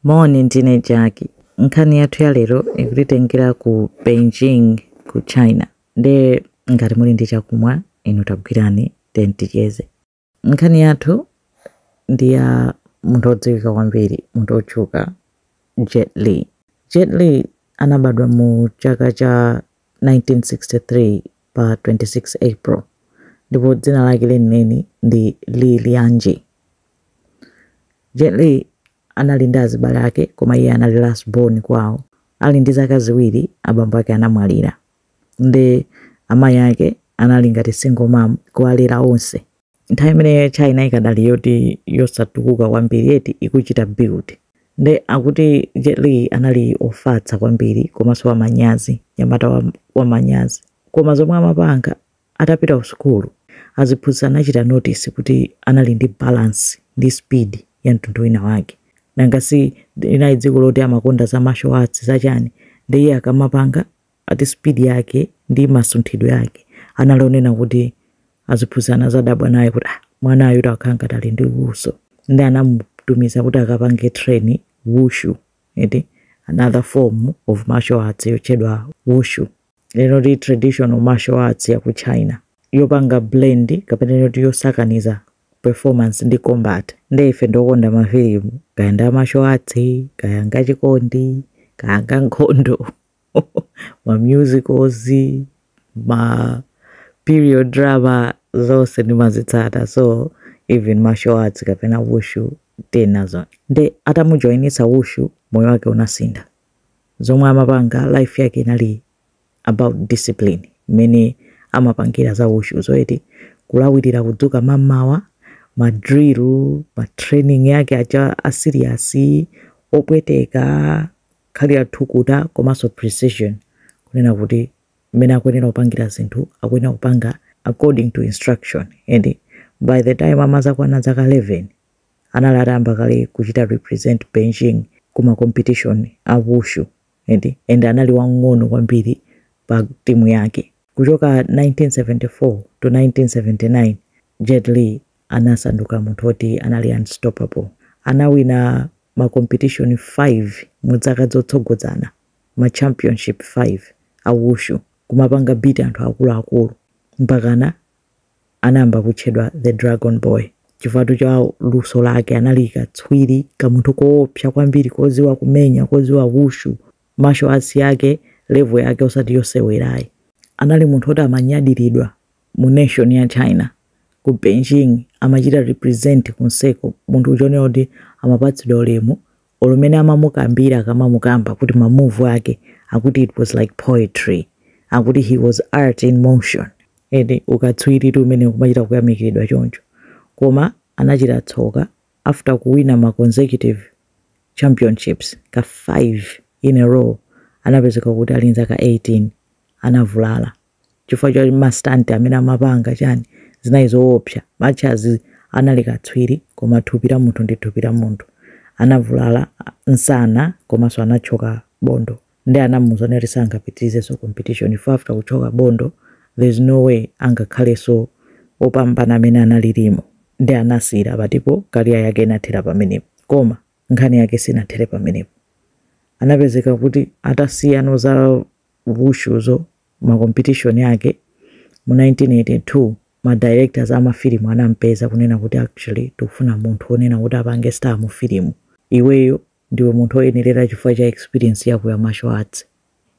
Moni, ndine Jack. Nkhani yathu ya lero ikutitengera ku Beijing ku China. Nde ngati muli ndi chakumwa inu tagwirani then ticheze. Nkhani yathu ndi ya munthu wodziwika kwambiri, munthu wotchuka Jet Li. Jet Li anabadwa mu chaka cha 1963 pa 26 April ndipo dzina lake lenileni ndi Li Lianjie. Jet Li anali ndi azibale ake koma iye anali last born kwawo. Ali ndi zaka ziwiri abambo ake anamwalira. Nde amayi ake anali ngati single mom kuwalera onse. Nthawi imeneyo China ikadali yoti yosatukuka kwambiri eti ikuchita build. Nde akuti Jet Li anali ofatsa kwambiri komaso wamanyazi, nyamata wamanyazi. Koma zomwe amapanga Atapita ku sukulu, aziphunzitsi anachita notice kuti anali ndi balance ndi speed ya mtundu wina wake. Nanga si linali dziko loti amakonda za martial arts za chani nde iye akamapanga ati speed yake ndi masunthidwe ake anali onena kuti aziphunzitsi anazadabwa naye kuti ah mwanayutu akhala ngati ali ndi luso nde anamutumiza kuti akapange train Wushu eti another form of martial arts yotchedwa Wushu. Yoti traditional martial arts ya ku China yopanga blend kapena yoti yosakaniza performance ndi combat nde ife ndi okonda mafilimu kaya ndi a martial arts kaya ngachikondi kaya ngankhondo ma musicals ma period drama zonse ndimazitsata so even martial arts kapena wushu tinazo nde atamujoinitsa wushu moyo wake unasintha zomwe amapanga life yake inali about discipline mmene amapangira za wushuzo eti kulawirira kudzuka mamawa ma drill ma training yake aja asiriyasi opweteka kukhala thukuta komanso precision kunena kuti mmene akuyenera kupangira zinthu akuyenera kupanga according to instruction and by the time amazakwana dzaka 11 anali atayamba kale kuchita represent Beijing ku ma competition a Wushu eti and anali wamng'ono kwambiri pa timu yake. Kuchoka 1974 to 1979, Jet Li anasanduka munthu oti anali unstoppable. Anawina ma competition 5 mu dzaka dzotsogodzana, ma championship 5 a Wushu, kumapanga beat anthu akuluakulu mpakana anayamba kutchedwa the dragon boy chifukwa cha luso lake anali katswiri kamunthu koopsa kwambiri koziwa kumenya koziwa wushu martial arts yake level yake osati yosewerayi anali munthu oti amanyadiridwa mu nation ya china ku beijing amachita represent konseko munthu ochita kuonera kuti amapatsidwa ulemu olo mene amamukambira akamamukamba kuti ma move ake akuti it was like poetry akuti he was art in motion and ukatswiritu umene kumachita kuyamikiridwa choncho koma anachita tsoka after kuwina ma consecutive championships ka 5 in a row anapezeka kuti ali nzaka 18 anavulala chifukwa cha mastanti amene amapanga chani zinayi zoopsa mwachazi anali katswiri koma thupi la munthu ndi thupi la munthu anavulala nsana komanso anatchoka bondo nde anamuuza kuti sangapitirizenso competition after kutchoka bondo there's no way angakhalenso opambana amene analilimu nde anasiyira pati po career yake inathera pamenepo koma nkhani yake sinathere pamenepo anapezeka kuti atasiyano za wushuzo, ma competition ake, mu 1982, ma directors a mafilimu anampeza kunena kuti actually tikufuna munthu wonena kuti apange star mu filimu. Iweyo ndiwe munthu oyenerera chifukwa cha experience yako ya martial arts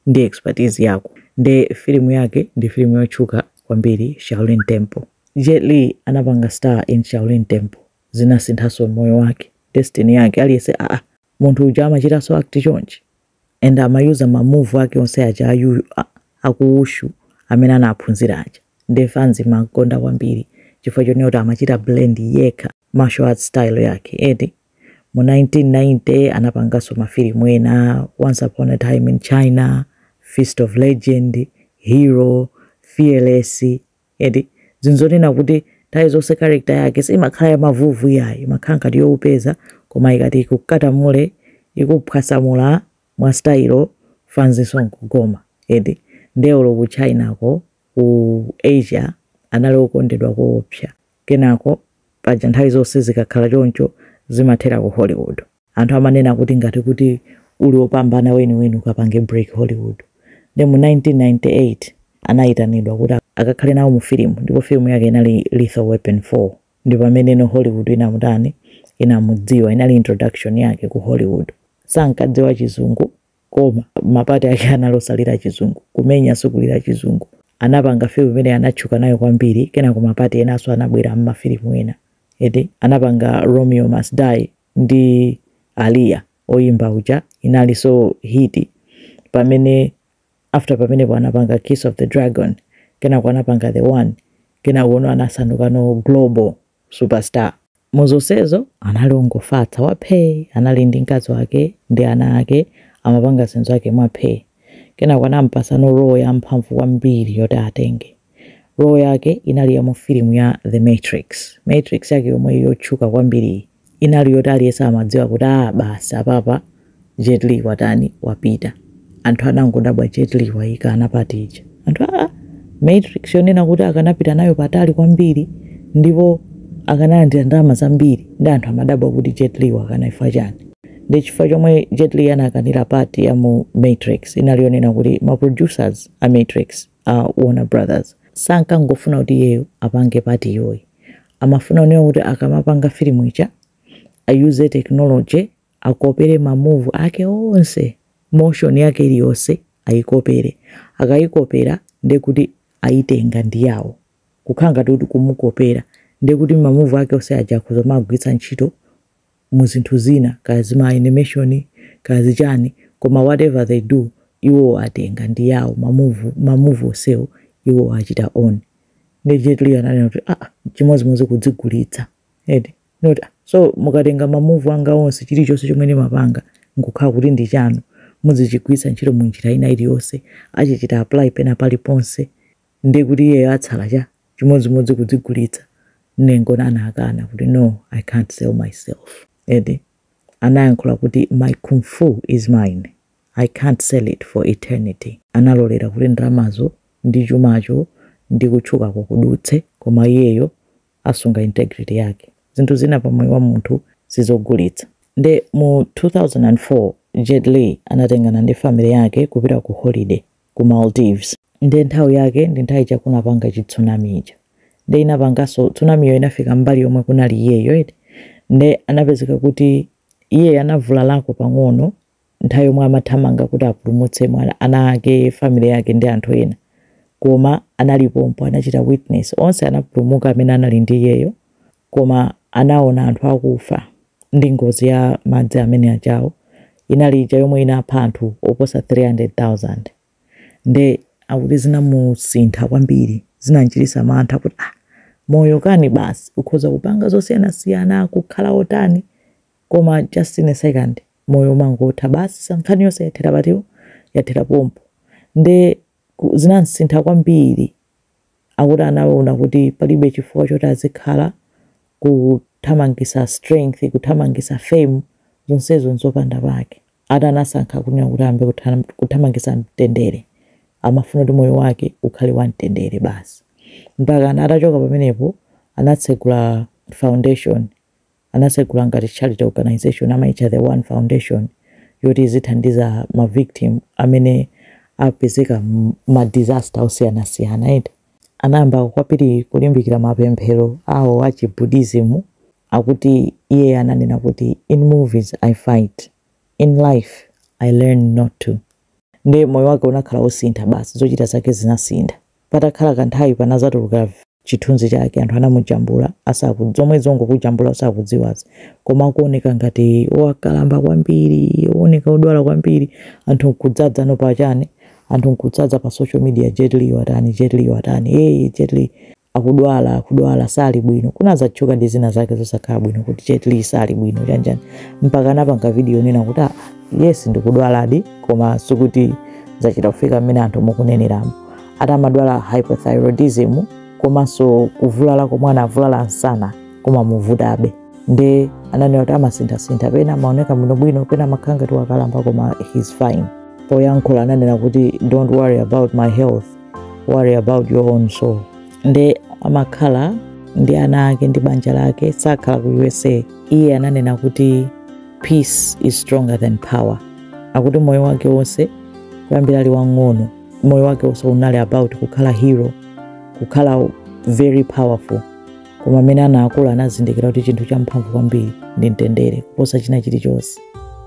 ndi expertise yako. Nde filimu yake ndi filimu yotchuka kwambiri Shaolin Temple. Jet Li anapanga star in Shaolin Temple. Zinasinthanso moyo wake, destiny yake. Aliyense, ah, munthu uja amachitanso act chonchi? and amayuza ma move ake onse aja a yu a- aku wushu amene anaphunzira aja nde fans imakonda kwambiri chifukwa chonena kuti amachita blend yekha martial arts style yake eti mu 1990 anapanganso mafilimu ena once upon a time in china fist of legend hero fearless eti zinzonena kuti nthawi zonse character yake simakhala ya mavuvu iyayi imakhala ngati yowopeza koma ikati ikukutamule ikuphwasamula mwa style fanzinso nkugoma eti nde olo ku Chinako ku Asia anali okondedwa koopsa kenako paja nthawi zonse zikakhala choncho zimathera ku Hollywood Anthu amanena kuti ngati kuti uli opambana weniweni ukapange break Hollywood. Nde mu 1998 anayitanidwa kuti akakhale nawo mu filimu ndipo filimu yake inali Lethal Weapon 4. Ndi pamenenono Hollywood inamutani, inamudziwa, inali introduction yake ku Hollywood. Sankadziwa chizungu koma ma part ake anali osalira chizungu, kumenya sikulira chizungu. Anapanga filimu imene anatchuka nayo kwambiri kenako ma part enanso anabwera mma filimu ena. Eti anapanga Romeo Must Die ndi Aaliyah oyimba uja inalinso hit pamene after pamenepo anapanga Kiss of the Dragon kenako anapanga The One kenakono anasandukano global superstar muzonsezo anali ongofatsa waphee anali ndi mkazi wake ndi ana ake amapanga zinthu zake mwaphee kenako anampatsano role ya mphamvu kwambiri yoti atenge Role yake inali ya mu filimu ya The Matrix. Matrix yake yomwe yotchuka kwambiriyi inali yoti aliyense amadziwa kuti a basi apapa Jet Li watani wapita. Anthu anangodabwa Jet Li wayikana part ija. Part ya Matrix yonena kuti akanapita nayo patali kwambiri ndipo akanalandira ndalama zambiri nde anthu amadabwa kuti Jet Li wakana chifukwa chani. Nde chifukwa chomwe Jet Li anakanira part ya mu Matrix inali yonena kuti ma producers a Matrix a warner brothers sankangofuna kuti iyeyo apange part yoyi amafuna kunena kuti akamapanga filimu ija ayuze technology akopere mamuvu ake onse motion yake iliyonse ayikopere akayikopera ndiye kuti ayitenga ndi yawo kukhala ngati kuti kumukopera ndiye kuti mamuvu ake onse aja akhoza kumagwiritsa ntchito mu zinthu zina kaya zima animation kaya zichani koma whatever they do iwowo atenga ndi yawo ma move ma move onsewo iwowo achita own nde Jet Li ananena kuti ah chimodzimodzi kudzigulitsa eti not so mukatenga ma move anga onse chilichonse chomwe ndimapanga nkukhala kuti ndi chanu muzichigwiritsa ntchito mu njira ina iliyonse azichita apply pena paliponse ndiye kuti iyeyo atsala cha chimodzimodzi kudzigulitsa nde anangokana kuti no i can't sell myself eti anayankhula kuti my kung fu is mine i can't sell it for eternity analolera kuti ndalamazo ndi chumacho ndi kutchukako kudutse koma iyeyo asunga integrity yake zinthu zina pa moyo wa munthu sizogulitsa nde mu 2004 Jet Li anatengana ndi family yake kupita ku holiday ku Maldives. Nde nthawi yake ndi nthawi ija kunapanga chi tsunami ija. Nde inapanganso tsunami yo inafika mbali yomwe kunali iyeyo eti. Nde anapezeka kuti iye anavulalako pang'ono nthawi yomwe amathamanga kuti apulumutse mwana ana ake, family yake ndi anthu ena. Koma analipompo anachita witness. Onse anapulumuka amene anali ndi iyeyo. koma anaona anthu akufa ndi ngozi ya madzi amene ajawo inali ija yomwe inapha anthu oposa 300,000 nde akuti zinamusintha kwambiri zinamchititsa mantha kuti ah moyo kani basi ukhoza kupanga zosiyanasiyana kukhala otani koma just in a second moyo umangotha basi nkhani yonse yathera pati yathera pompo nde ku- zinamsintha kwambiri akuti anaona kuti palibe chifukwa choti azikhala kuthamangisa strength kuthamangisa fame zonsezo nzopanda pake eti anasankha kunena kuti ayambe kuthamangisa mtendere amafuna kuti moyo wake ukhale wa mtendere basi mpakana atachoka pamenepo anatsegula foundation anatsegula ngati charity organisation amaitcha The One Foundation yoti izithandiza ma victim amene apezeka m'ma disaster osiyanasiyana eti. Anayamba kwambiri kulimbikira mapemphero awo a chi Buddhism akuti iye ananena kuti in movies I fight, in life I learn not to. Ndiye moyo wake unakhala wosintha basi, zochita zake zinasintha. Patakhala kanthawi panazatuluka chithunzi chake anthu anamujambula asaku zomwe zongokujambula usakudziwazi koma akuoneka ngati wakalamba kwambiri ooneka odwala kwambiri anthu nkudzaza no pa chani anthu nkudzaza pa social media Jet Li watani Jet Li watani hey Jet Li akudwala akudwala sali bwino kunazatchuka ndi zina zake zosakhala bwino kuti Jet Li sali bwino chanjani mpaka anapanga video yonena kuti ah yes ndikudwaladi koma sikuti zachita kufika mmene anthu mukuneneramu ati amadwala hypothyroidism komanso kuvulala komwe anavulala msana kumamuvutabe nde ananena kuti amasinthasintha pena amaoneka bwinobwino pena amakhala ngati wakalamba koma he's fine poyankhula ananena kuti don't worry about my health worry about your own soul nde amakhala ndi ana ake ndi banja lake sakhala ku usa iye ananena kuti peace is stronger than power akuti moyo wake wonse kuyambira ali wang'ono moyo wake wonse unali about kukhala hero kukhala very powerful koma mmene anakula anazindikira kuti chinthu champhamvu kwambiri ndi mtendere kuposa china chilichonse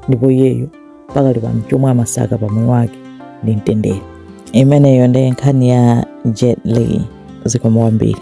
ndipo iyeyo pakali pano chomwe amasaka pa moyo wake ndi mtendere imeneyo ndi nkhani ya Jet Li zikomo kwambiri